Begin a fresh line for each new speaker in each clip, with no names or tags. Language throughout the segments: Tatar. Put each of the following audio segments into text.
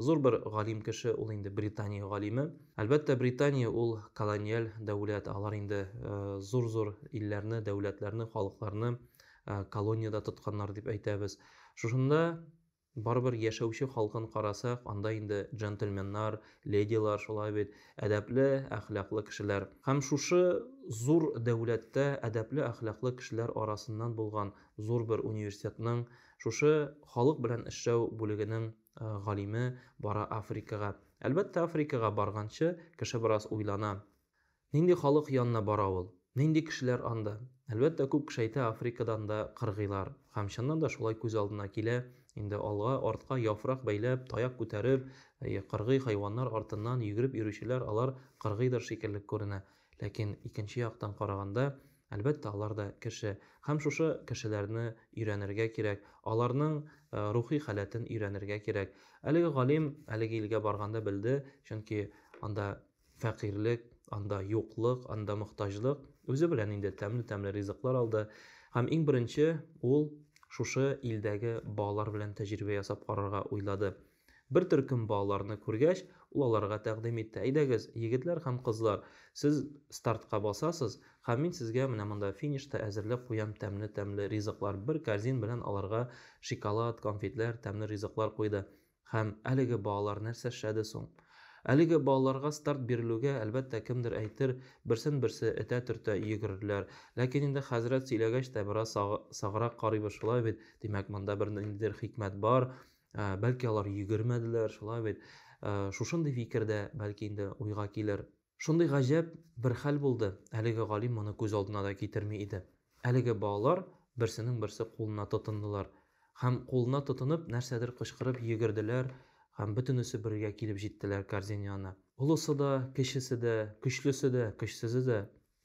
Зур бер галим кеше ул инде Британия галиме. Әлбәттә, Британия ул колониаль дәүләт, алар инде зур-зур илләрне, дәүләтләрне, халыкларны колониядә тотканнар дип әйтәбез. Шушында барыбер яшәүче халкын карасак, анда инде джентльменнар, ледилар шулай бит, әдәпле, әхлаклы кешеләр. Һәм шушы зур дәүләттә әдәпле, әхлаклы кешеләр арасыннан булган зур бер университетның, шушы халык белән эшләү бүлегенең галиме бара Африкага. Әлбәттә, Африкага барганчы, кеше бераз уйлана. Нинди халык янына бара ул? Нинди кешеләр анда? Әлбәттә, күп кеше әйтә, Африкадан да кыргыйлар. Һәм чыннан да шулай күз алдына килә. Инде алга, артка яфрак бәйләп, таяк күтәреп, кыргый хайваннар артыннан йөгереп йөрүчеләр алар кыргыйдыр шикелле күренә. Ләкин икенче яктан караганда, әлбәттә, алар да кеше. Һәм шушы кешеләрне өйрәнергә кирәк, аларның рухи халәтен өйрәнергә кирәк. Әлеге галим әлеге илгә барганда белде, чөнки анда фәкыйрьлек, анда юклык, анда мохтаҗлык, үзе белән инде тәмле-тәмле ризыклар алды. Һәм иң беренче ул шушы илдәге балалар белән тәҗрибә ясап карарга уйлады. Бер төркем балаларны күргәч, ул аларга тәкъдим итте, Әйдәгез, егетләр һәм кызлар, сез стартка басасыз, һәм мин сезгә менә монда финишта әзерләп куям тәмле-тәмле ризыклар Бер корзин белән аларга шиколад, конфетләр, тәмле ризыклар куйды. Һәм әлеге балалар нәрсә эшләде соң? Әлеге балаларга старт бирелүгә, әлбәттә, кемдер әйтер, берсен-берсе этә-төртә йөгерерләр. Ләкин инде хәзрәт сөйләгәч тә бераз саграк карыйбыз, шулай бит? Димәк, монда бер ниндидер хикмәт бар. Ә, бәлки алар йөгермәделәр, шулай бит. Ә, шушындый фикер дә, бәлки инде, уйга килер. Шундый гаҗәп бер хәл булды, әлеге галим моны күз алдына да китерми иде. Әлеге балалар берсенең-берсе кулына тотындылар. Һәм, кулына тотынып, нәрсәдер кычкырып йөгерделәр һәм бөтенесе бергә килеп җиттеләр кәрзин янына. Олысы да, кечесе дә, көчлесе дә, көчсезе дә,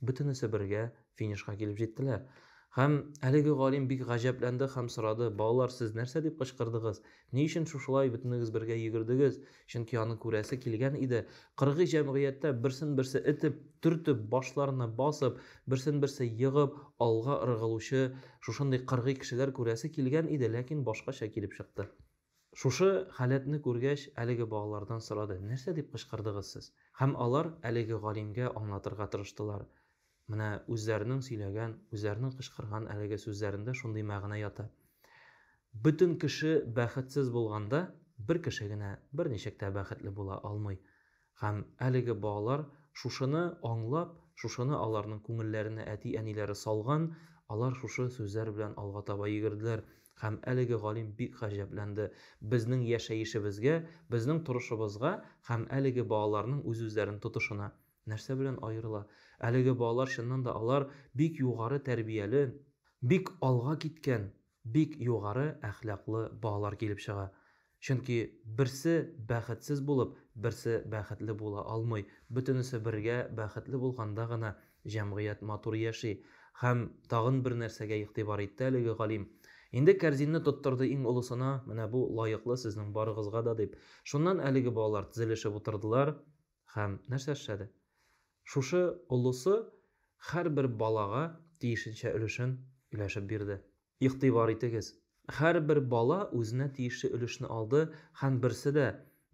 Бөтенесе бергә финишка килеп җиттеләр. Һәм әлеге галим бик гаҗәпләнде һәм сорады, Балалар, сез нәрсә дип кычкырдыгыз? Ни өчен шушылай бөтенегез бергә йөгердегез? Чөнки аны күрәсе килгән иде. Кыргый җәмгыятьтә берсен-берсе этеп, төртеп, башларына басып, берсен-берсе егып, алга ыргылучы шушындый кыргый кешеләр күрәсе килгән иде, ләкин башкача килеп чыкты. Шушы халәтне күргәч, әлеге балалардан сорады, Нәрсә дип кычкырдыгыз сез? Һәм алар әлеге галимгә аңлатырга тырыштылар, Менә үзләренең сөйләгән, үзләренең кычкырган әлеге сүзләрендә шундый мәгънә ята. Бөтен кеше бәхетсез булганда, бер кеше генә берничек тә бәхетле була алмый. Һәм әлеге балалар шушыны аңлап, шушыны аларның күңелләренә әти-әниләре салган, алар шушы сүзләр белән алга таба йөгерделәр. Һәм әлеге галим бик гаҗәпләнде. Безнең яшәешебезгә, безнең торышыбызга һәм әлеге балаларның үз-үзләрен тотышына нәрсә белән аерыла? Әлеге балалар, чыннан да, алар бик югары тәрбияле, бик алга киткән, Бик югары әхлаклы балалар килеп чыга. Чөнки берсе бәхетсез булып, берсе бәхетле була алмый. Бөтенесе бергә бәхетле булганда гына җәмгыять матур яши. Һәм тагын бер нәрсәгә игътибар итте әлеге галим. Инде кәрзинне тоттырды иң олысына, менә бу лаеклы сезнең барыгызга да, дип. Шуннан әлеге балалар тезелешеп утырдылар. Һәм нәрсә эшләде? Шушы олысы һәрбер балага тиешенчә өлешен өләшеп бирде. Игътибар итегез, һәрбер бала үзенә тиешле өлешне алды һәм берсе дә,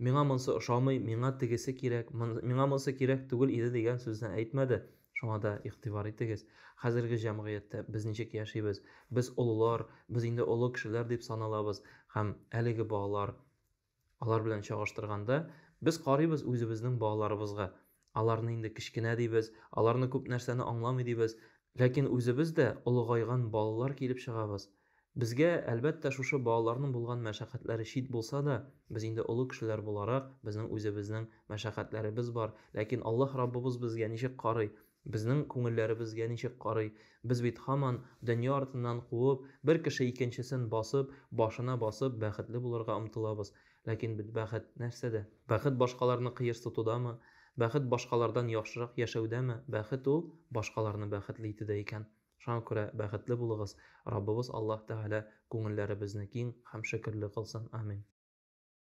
Миңа монсы ошамый, миңа тегесе кирәк, миңа монсы кирәк түгел иде дигән сүзне әйтмәде. Шуңа да игътибар итегез, хәзерге җәмгыятьтә без ничек яшибез? Без олылар, без инде олы кешеләр дип саналабыз һәм әлеге балалар Алар белән чагыштырганда, без карыйбыз үзебезнең балаларыбызга. Аларны инде кечкенә дибез, аларны күп нәрсәне аңламый дибез. Ләкин үзебез дә олыгайган балалар килеп чыгабыз. Безгә, әлбәттә, шушы балаларның булган мәшәкатьләре чит булса да, без инде олы кешеләр буларак, безнең үзебезнең мәшәкатьләребез бар. Ләкин Аллаһ Раббыбыз безгә ничек карый? Безнең күңелләре безгә ничек карый? Без бит һаман, дөнья артыннан куып, бер кеше икенчесен басып, башына басып, бәхетле булырга омтылабыз. Ләкин бит бәхет нәрсәдә? Бәхет башкаларны кыерсытудамы? Бәхет башкалардан яхшырак яшәүдәме? Бәхет ул, башкаларны бәхетле итүдә икән. Шуңа күрә бәхетле булыгыз, Раббыбыз Аллаһ Тәгалә күңелләребезне киң һәм шөкерле кылсын. Амин.